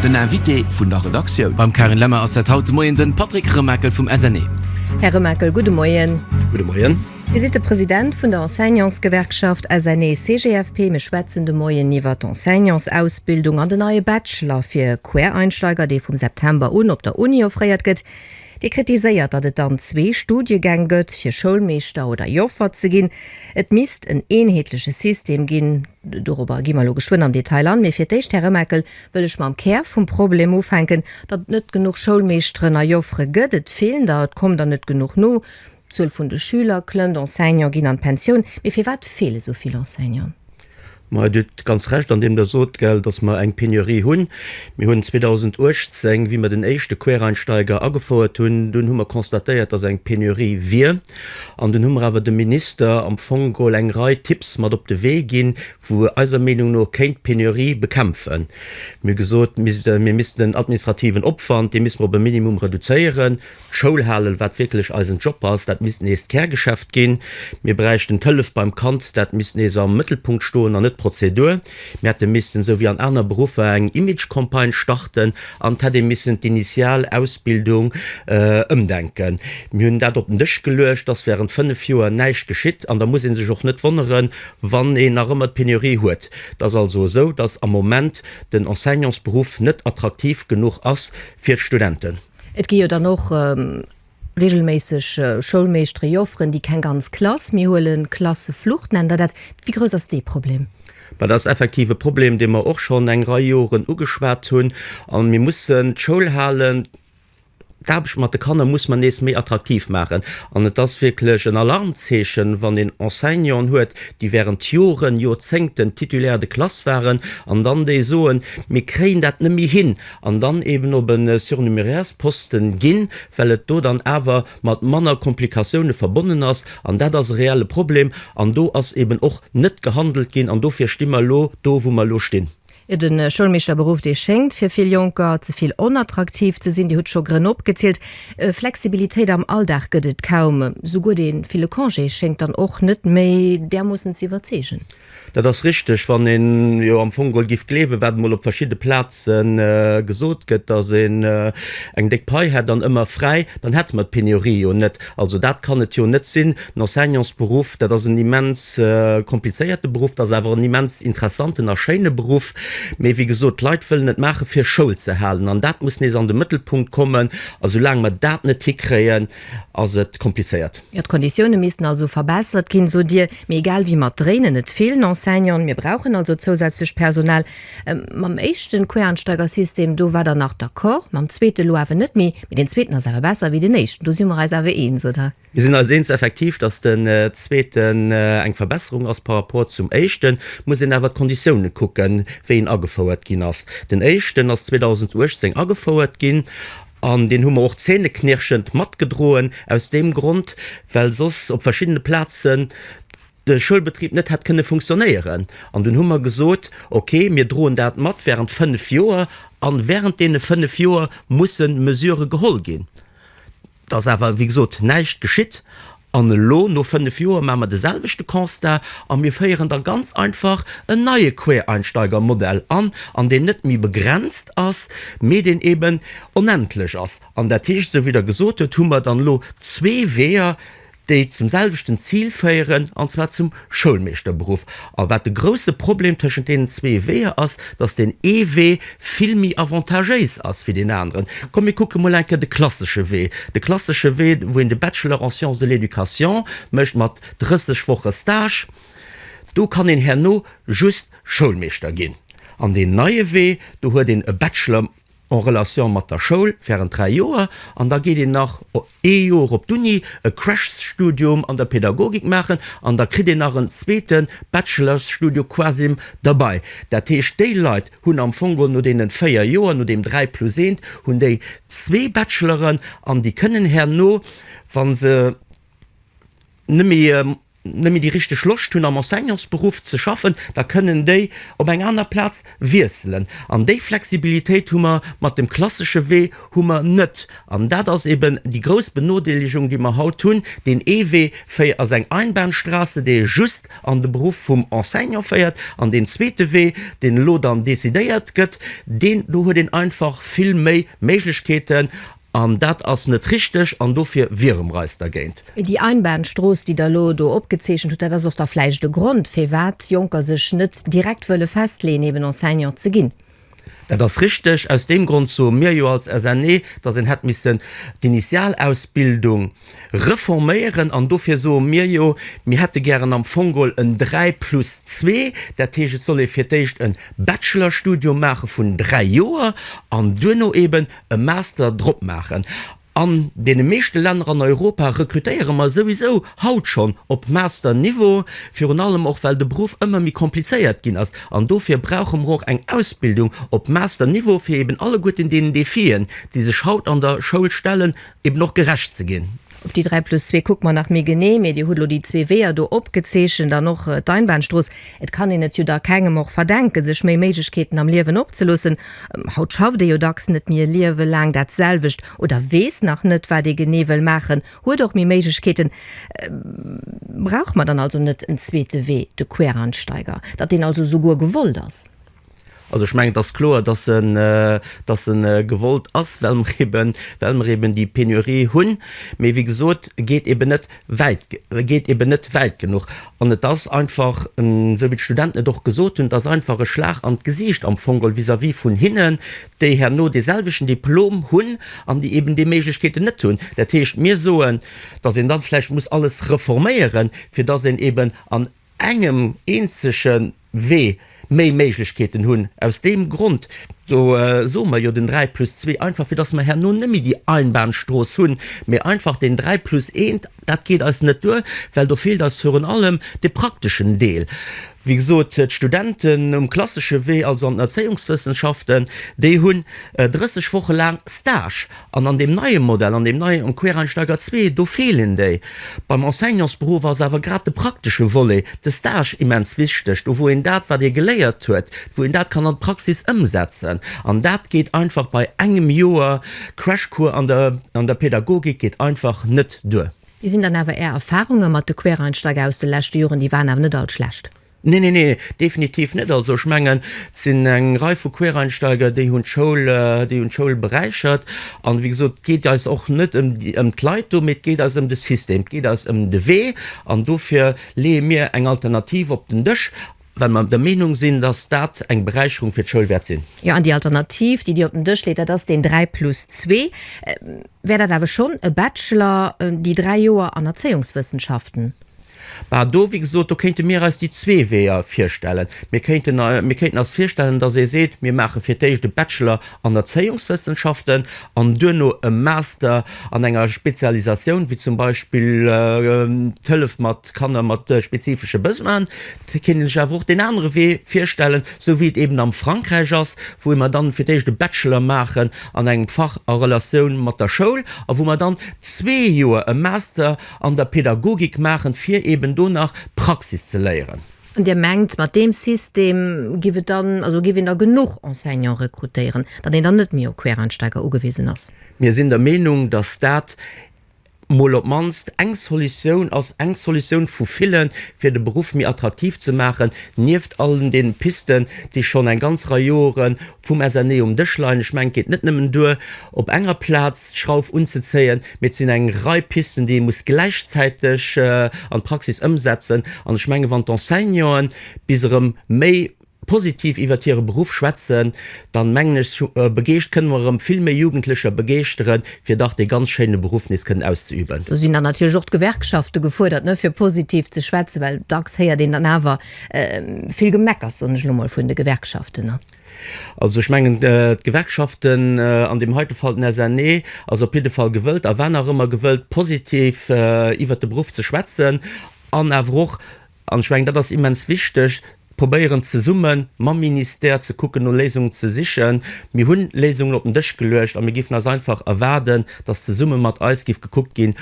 Den Invité vun der Redaktioun. Beim Karin Lemmer ass dat haut de Moien de Patrick Remakel vum SNE. Här Remakel, gudde Moien. Gudde Moien. Dir sidd de President vun der Enseignantsgewerkschaft SNE-CGFP. Mir schwätzen de Moien iwwer d'Enseignantsausbildung an den neie Bachelor fir Quereinsteiger, dee vum September un op der Uni offréiert gëtt. Dir kritiséiert, datt et dann zwee Studiegäng gëtt, fir Schoulmeeschter oder Joffer ze ginn. Et misst en eenheetleche System ginn. Dorobber gi mer elo geschwënn am Detail an. Mee fir d'éischt, Här Remakel, wëll ech mam Kär vum Problem ufänken, datt et net genuch Schoulmeeschteren a Joffere gëtt. Et feelen der, et kommen der net genuch no. D'Zuel vun de Schüler klëmmt, Enseignant ginn an d'Pensioun. Mee firwat feele esou vill Enseignant? Dir hutt ganz Recht an deem Der sot, datt mer eng Penurie hunn. Mir hunn 2018, wéi mer den éischte Quereinsteiger agefouert hunn, dunn hu mer constatéiert, datt eng Penurie wier. An dunn hu mer awer dem Minister am Fong geholl eng Rei Tipps mat op de Wee ginn, wou e eiser Meenung no kéint d'Penurie bekämpfen. Mir hu gesot, mir missten den administrativen Opwand, dee misste mer op e Minimum reduzéieren. Schoul halen, wat wierklech eisen Job ass, dat misst nees d'Kärgeschäft ginn. Mir bräichten d'Hëllef beim Kand, dat misst nees am Mëttelpunkt stoen an net d'Prozedur. Mir hätte missten, esou wéi an aner Beruffer, eng Image-Campagne starten an et hätt ee missen d'initial Ausbildung ëmdenken. Mir hunn dat op den Dësch geluecht, et ass während fënnef Joer näischt geschitt an da muss ee sech och net wonneren, wann een nach ëmmer d'Penurie huet. Et ass also esou, dass am Moment den Enseignantsberuff net attraktiv genuch ass fir d'Studenten. Et gi jo dann och regelméisseg Schoulmeeschtere Jofferen, déi keng ganz Klass méi huelen, Klasseflucht nennen der dat. Wéi grouss ass dee Problem? Dat ass effektiv e Problem, dee mer och schonn eng Rei Joren ugeschwat hunn. A mir mussen d'Schoulhalen, d'Aarbecht mat de Kanner muss mer nees méi attraktiv maachen. An et ass wierklech en Alarmzeechen, wann een Enseignanten huet, déi während Joren, Jorzéngten Titulaire de classe waren an dann déi soen, Mir kréien dat net méi hin, an dann eben op e Surnumerairsposten ginn, well et do dann awer mat manner Komplikatioune verbonnen ass, an dat ass e reelle Problem, an do ass eben och net gehandelt ginn, an dofir sti mer elo do, wou mer elo stinn. Jo, de Schoulmeeschterberuff, dee schéngt fir vill Jonker ze vill onattraktiv ze sinn. Dir hutt scho Grënn opgezielt. Flexibilitéit am Alldag gëtt et kaum, souguer dee ville Congé schéngt dann och net méi därmoossen ze iwwerzeegen. Dat ass richteg. Wann een jo am Fong gol giff gleewen, wat emol op verschidde Plazen gesot gëtt, dass een eng déck Pai hätt an ëmmer fräi, dann hätte mer d'Pénurie jo net. Also dat kann et jo net sinn. Den Enseignantsberuff, dat ass en immens komplizéierte Beruff, dat ass awer en immens interessanten a schéine Beruff. Mee wéi gesot, d'Leit wëllen et maachen, fir Schoul ze halen. An dat muss nees an de Mëttelpunkt kommen. A soulaang mer dat net hikréien, ass et komplizéiert. Jo, d'Konditioune missten also verbessert ginn, sot Dir. Mee egal wéi, mer dréinen net vill Enseignanten. Mir brauchen also zousätzlecht Personal. Mam éischte Quereinsteigersystem, do waart Der nach d'accord, mam zweete elo awer net méi. Mee deen zweeten ass awer besser wéi deen éischten, do si mer eis awer eens, oder? Mir sinn eis eens effektiv, datt den zweeten eng Verbesserung ass par rapport zum éischten. Et muss een awer d'Konditioune kucken, wéi en agefouert ginn ass. Den éischten ass 2018 agefouert ginn. An deen hu mer och zähneknirschend matgedroen, aus deem Grond, well soss op verschiddene Plazen de Schoulbetrib net hätt kënne funktionéieren. An dunn hu mer gesot, Okay, mir droen dat mat während fënnf Joer, a während deene fënnf Joer musse Mesurë geholl ginn. Et ass awer, wéi gesot, näischt geschitt. An elo, no fënnef Joer, maache mer de selwechte Constat a mir féieren da ganz einfach en neie Quereinsteigermodell an, an deen net méi begrenzt ass, mee deen eeben onendlech ass. An dat heescht, esou wéi Der gesot hutt, hu mer dann elo zwee Weeër, déi zum selwechten Zil féieren, an zwar zum Schoulmeeschterberuff a wat de grousse Problem tëschent deenen zwee Weeër ass, dass deen ee Wee vill méi avantagéis ass wéi deen aneren. Komm mir kucke mol eng Kéier de klassesche Wee, de klassesche Wee, wou een de Bachelor en sciences de l'éducation mécht mat 30 Woche Stage, do kann een herno just Schoulmeeschter ginn. An deen neie Wee, do huet een e Bachelor. en relation mat der Schoul während 3 Joer an da geet een nach ee Joer op d'Uni, e Crash-Studium an der Pädagogik maachen an da kritt een nach en zweete Bachelors-Studio quasim derbei. Dat heescht, déi Leit hunn am Fong geholl no deenen 4 Joer, no deem 3 plus eent, hunn déi zwee Bacheloren an déi kënnen herno, wa se net méi, nëmme déi richteg Loscht hunn am Enseignantsberuff ze schaffen, da kënnen déi op eng aner Plaz wiesselen. An déi Flexibilitéit hu mer mat dem klassesche Wee hu mer net. An dat ass eben déi grouss Benodeelegung, déi mer haut hunn. Deen ee Wee féi ass eng Einbahnstraße, dee just an de Beruff vum Enseignant féiert. An deen zweete Wee, deen elo dann decidéiert gëtt, deen do huet een einfach vill méi Méiglechkeeten. An dat ass net richteg an dofir wiere mer eis dergéint. Déi Einbahnstrooss, déi Der elo do opgezeechent hutt, dat ass och da vläicht e Grond, firwat Jonker sech net direkt wëlle festleeën, eben Enseignant ze ginn. Dat ass richteg. Aus deem Grond soe mir jo als SNE, dass een hätt missen d'Initialausbildung reforméieren. An dofir soe mir jo, mir hätte gären am Fong geholl en Dräi plus Zwee. Dat heescht, et soll ee fir d'éischt e Bachelorstudium maache vun dräi Joer an duerno eben e Master drop maachen. An deene meeschte Länner an Europa rekrutéiere mer souwisou haut schonn op Master-Niveau, virun allem och well de Beruff ëmmer méi komplizéiert ginn ass. An dofir brauche mer och eng Ausbildung op Master-Niveau, fir eeben alleguerten deenen Defien, déi sech haut an der Schoul stellen, eeben och gerecht ze ginn. Op déi 3 plus 2 kucke mer nach méi genee, mee Dir hutt elo déi zwee Weeër do opgezeechent an och d'Einbahnstrooss. Et kann een et jo da kengem och verdenken, sech méi Méiglechkeeten am Liewen opzeloossen. Haut schafft ee jo dacks net méi e Liewe laang dat selwecht oder weess nach net, wat ee genee wëll maachen, huet och méi Méiglechkeeten. Brauche mer dann also net en zweete Wee, de Quereinsteiger, datt deen also souguer gewollt ass? Also ech mengen, et ass kloer, dass e, dass e gewollt ass, well mer eben, well mer eben déi Pénurie hunn. Mee wéi gesot, e geet eben net wäit, e geet eben net wäit genuch. An et ass einfach, esou wéi d'Studenten et och gesot hunn, et ass einfach e Schlag an d'Gesiicht am Fong geholl vis-à-vis vun hinnen, déi herno deeselwechten Diplom hunn an déi eben déi Méiglechkeeten net hunn. Dat heescht, mir soen, dass een da vläicht muss alles reforméieren, fir dass een eben an, engem eenzege Wee méi Méiglechkeeten hunn. Aus deem Grond do soe mer jo den 3 plus 2, einfach fir datt mer herno net méi déi Einbahnstrooss hunn, mee einfach den 3 plus 1. Dat geet eis net duer, well do feelt eis virun allem de prakteschen Deel. Wéi gesot, d'Studenten um klassesche Wee, also an den Erzéiungswëssenschaften, déi hunn 30 Woche laang Stage. An an deem neie Modell, an deem neie am Quereinsteiger zwee, do feelen déi. Beim Enseignantsberuff ass awer grad de praktesche Volet, de Stage immens wichteg, do wou een dat, wat ee geléiert huet, wou een dat kann an d'Praxis ëmsetzen. An dat geet einfach bei engem Joer Crashcours an der an der Pädagogik geet einfach net duer. Wéi sinn dann awer Är Erfarunge mat de Quereinsteiger aus de leschte Joren? Déi waren awer net all schlecht. Nee, nee, nee, definitiv net. Also ech mengen, et sinn eng Rei vu Quereinsteiger, déi hunn d'Schoul, déi hunn d'Schoul beräichert. An, wéi gesot, et geet eis och net ëm déi, ëm d'Leit do, mee et geet eis ëm de System, et geet eis ëm de Wee. An dofir leeë mir eng Alternativ op den Dësch, well mer der Meenung sinn, dass dat eng Beräicherung fir d'Schoul wäert sinn. Jo, an déi Alternativ, déi Dir op den Dësch leet, dat ass deen dräi plus zwee. Wär dat awer schonn e Bachelor, déi dräi Joer an Erzéiungswëssenschaften? Bah, do, wéi gesot, do kéinte mir eis déi zwee Weeër virstellen. Mir kéinten, mir kéinten eis virstellen, dass ee seet, mir maache fir d'éischt e Bachelor an Erzéiungswëssenschaften an duerno e Master an enger Spezialisatioun, wéi zum Beispill d'Hëllef mat Kanner mat spezifesche Besoinen. Da kéint ee sech awer och deen anere Wee virstellen, esou wéi et eeben am Frankräich ass, wou mer dann fir d'éischt e Bachelor maachen an engem Fach a Relatioun mat der Schoul a wou mer dann zwee Joer e Master An der Pädagogik maachen, fir eben do nach Praxis ze léieren. An Dir mengt, mat deem System giff et dann, also giff een da genuch Enseignant rekrutéieren, datt een dann net méi op Quereinsteiger ugewisen ass? Mir sinn der Meenung, datt dat mol op d'mannst eng Solutioun ass, eng Solutioun vu villen, fir de Beruff méi attraktiv ze maachen, nieft allen deene Pisten, déi schonn eng ganz Rei Jore vum SNE um Dësch leien. Ech mengen, et geet net nëmmen duer, op enger Plaz d'Schrauf unzezéien, Mee et sinn eng Rei Pisten, déi ee muss gläichzäiteg an d'Praxis ëmsetzen. An ech menge wann d'Enseignanten bis erëm méi positiv iwwert hire Beruff schwätzen, dann mengen ech begeescht kënne mer erëm vill méi Jugendlecher begeeschtere fir dach dee ganz schéine Beruff nees kënnen auszeüben. Do sinn dann natierlech och d'Gewerkschafte gefuerdert, ne, fir positiv ze schwätzen, well dacks héiert een dann awer vill Gemeckers, soen ech elo mol, vun de Gewerkschaften. Also ech mengen, d'Gewerkschaften, an deem heite Fall den SNE, ass op jidde Fall gewëllt a war nach ëmmer gewëllt, positiv iwwert de Beruff ze schwätzen an awer och, an ech mengen, dat ass immens wichteg, probéieren zesumme mam Ministère ze kucken, no Léisungen ze sichen. Mir hunn Léisungen op den Dësch geluecht a mir géifen eis einfach erwaarden, dass zesumme mat eis géif gekuckt ginn,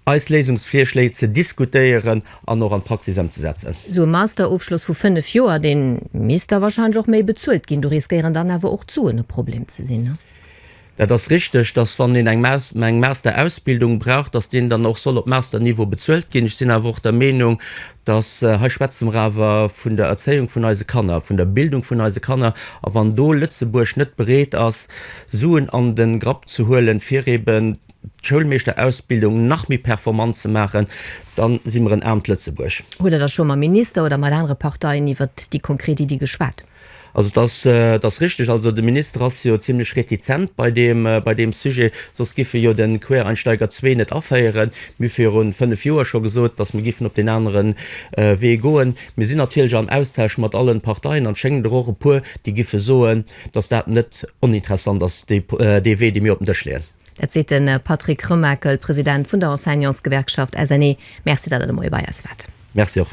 eis Léisungsvirschléi ze diskutéieren an och an d'Praxis ëmzesetzen. Esou e Masterofschloss vu fënnef Joer, dee misst da wahrscheinlech och méi bezuelt ginn. Do riskéieren dann awer och d'Suen e Problem ze sinn, ne? Dat ass richteg, dass wann een eng Masterausbildung brauch, dass deen dann och soll op Masterniveau bezuelt ginn. Ech sinn awer och der Meenung, dass, hei schwätze mer awer vun der Erzéiung vun eise Kanner, vun der Bildung vun eise Kanner, a wann do Lëtzebuerg net bereet ass, Suen an de Grapp ze huelen, fir eeben d'Schoulmeeschterausbildung nach méi performant ze maachen, da si mer en aarmt Lëtzebuerg. Hutt Der da scho mam Minister oder mat anere Parteien iwwert déi konkret Iddi geschwat? Also et ass, et ass richteg, also de Minister ass jo zimlech retizent bei deem, bei deem Sujet, soss géif e jo de Quereinsteiger zwee net aféieren. Mir hu viru fënnef Joer scho gesot, datt mir géifen op deen anere Wee goen. Mir sinn natierlech am Austausch mat alle Parteien an et schéngen der och e puer, déi géife soen, datt dat net oninteressant ass, dee Wee, dee mir op den Dësch leeën. Dat seet de Patrick Remakel, President vun der Enseignantsgewerkschaft SNE. Merci, datt Der de Moie bei eis waart. Merci och.